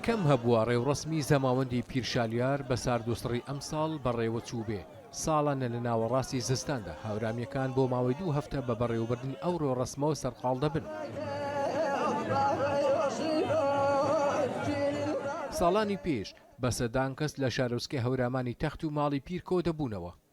کەم هەبووە ڕێوڕەسمی زەماوەندی پیرشالیار بە ساردوسڕی ئەمساڵ بەڕێوەچووبێ، ساڵانە لە ناوەڕاستی زستاندا هاورامییەکان بۆ ماوەی دوو هەفتە بە بەڕێوەبردنی ئەو ڕێوڕەسمەوە سەرقاڵ دەبن. ساڵانی پێش بە سەدان کەس لە شارۆچکەی هەورامانی تەخت و ماڵی پیر کۆدەبوونەوە،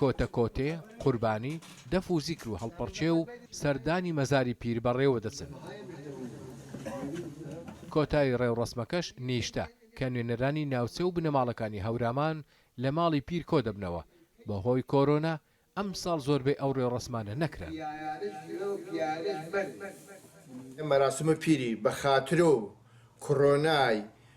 کۆتە کۆتێ، قوربانی، دەف و زیکر و هەڵپەڕکێ و سەردانی مەزاری پیر بەڕێوە دەچن. کۆتایی ڕێوڕەسمەکەش نیشتە، کە نوێنەرانی ناوچە و بنەماڵەکانی هەورامان لە ماڵی پیر کۆ دەبنەوە، بەهۆی کۆرۆنا ئەمساڵ زۆربەی ئەو ڕێوڕەسمانە نەکران. مەراسمە پیری بە خاترۆ و کڕۆنای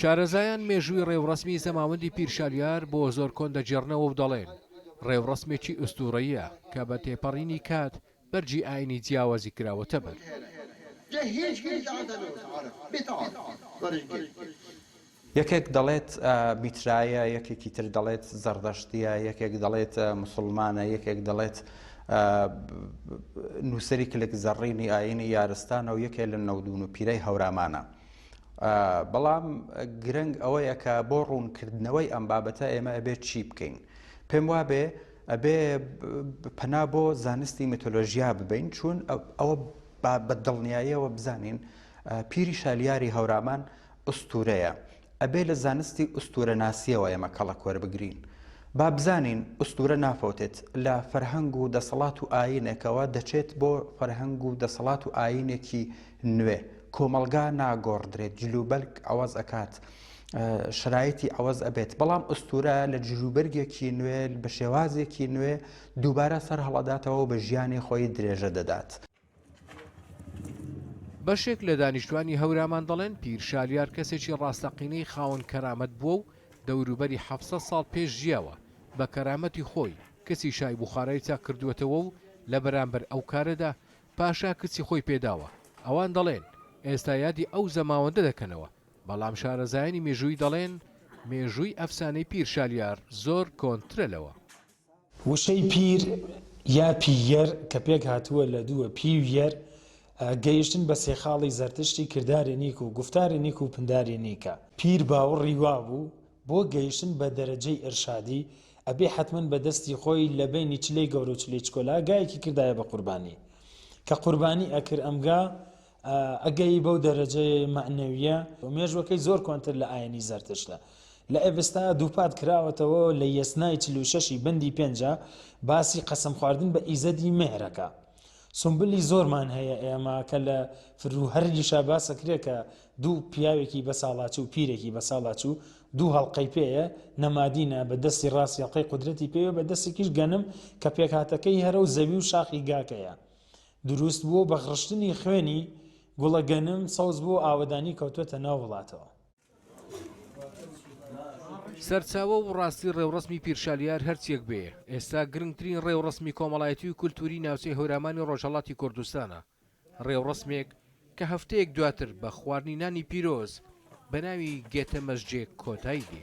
شارەزایان مێژووی ڕێوڕەسمی زەماوەندی پیرشالیار بۆ زۆر کۆن دەگێڕنەوە و دەڵێن، ڕێوڕەسمێکی ئوستوورەییە کە بە تێپەڕینی کات بەرگی ئایینی جیاوازی کراوەتە بەر. یەکێک دەڵێت میترایە، یەکێکی تر دەڵێت زەڕدەشتییە، یەکێک دەڵێت موسڵمانە، یەکێک دەڵێت نووسەری کلک زەڕینی ئایینی یارستانە و یەکێ لە نەودوونوپیرەی هەورامانە. بەڵام گرنگ ئەوەیە کە بۆ ڕوونکردنەوەی ئەم بابەتە ئێمە ئەبێت چی بکەین پێم وابێ ئەبێ پەنا بۆ زانستی میتۆلۆژیا ببین چون ئەوە بە دڵنیاییەوە بزانین پیری شالیاری هەورامان ئوستورەیە ئەبێ لە زانستی ئوستورە ناسیەوە ئێمە کەڵە کۆر بگرین. با بزانین ئوستورە نافەوتێت لە فەرهەنگ و دەسەڵات و ئاینێکەوە دەچێت بۆ فەرهەنگ و دەسەڵات و ئاینێکی نوێ، کۆمەڵگا ناگۆڕدرێت جلوبەرگ عەوەز ئەکات شەرایتی عەوەز ئەبێت بەڵام ئوستورە لە جلوبەرگێکی نوێ بە شێوازێکی نوێ دووبارە سەر هەڵەداتەوەو بە ژیانی خۆی درێژە دەدات. بەشێک لە دانیشتوانی هەورامان دەڵێن پیر شالیار کەسێکی ڕاستەقینەی خاوەن کەرامەت بووە و دەوروبەری حەڤ سەد ساڵ پێش ژیاوە بە کەرامەتی خۆی کچی شای بوخارای چاک کردووەتەوە و لە بەرامبەر ئەو کارەدا پاشا کچی خۆی پێ داوە. ئەوان دەڵێن، ئێستا یادی ئەو زەماوەندە دەکەنەوە. بەڵام شارەزایانی مێژوویی دەڵێن، مێژووی ئەفسانەی پیر شالیار زۆر کۆنترە لەوە. وشەی پیر یا پییەر کە پێکهاتووە لە دووە، پی و یەر، گەیشتن بە سێ خاڵی زەرتشتی کرداری نیک و گوفتاری نیک و پنداری نیکە. پیر باوڕی وابوو بۆ گەیشتن بە دەرەجەی ئیرشادی ئەبێ حەتمەن بە دەستی خۆی لە بەینی چلەی گەورە و چلەی چکۆلا گایەکی کردایە بە قوربانی کە قوربانی ئەکرد ئەم گا ئەگەی بەو دەرەجەی مەعنەویە و مێژوەکەی زۆر کۆنتر لە ئاینی زەرتشتە لە ئێبستا دووپات کراوەتەوە لە یەسنای چل و شەشی بەندی پێنجا باسی قەسەم خواردن بە ئیزەدی مێهرەکە سومبلی زۆرمان هەیە ئێمە کە لە فرو هەر یشا باسەکرێ کە دوو پیاوێکی بەساڵاچو و پیرێکی بەساڵاچو دوو هەڵقەی پێیە نەمادینە بە دەستی ڕاستی هەڵقەی قودرەتی پێوە بە دەستێکیش گەنم کە پێکهاتەکەی هەرە و زەوی و شاخی گاکەیە دروست بووە بە غڕشتنی خوێنی گوڵە گەنم سەوز بوو ئاوەدانی کەوتوەتە ناو وڵاتەوە. سەرچاوە و ڕاستی ڕێوڕەسمی پیرشالیار هەرچیەک بێ، ئێستا گرنگترین ڕێوڕەسمی کۆمەڵایەتی و کولتووری ناوچەی هەورامانی ڕۆژهەڵاتی کوردستانە، ڕێوڕەسمێک کە هەفتەیەک دواتر بە خواردنی نانی پیرۆز بە ناوی گێتە مەزجێ کۆتایی دێ.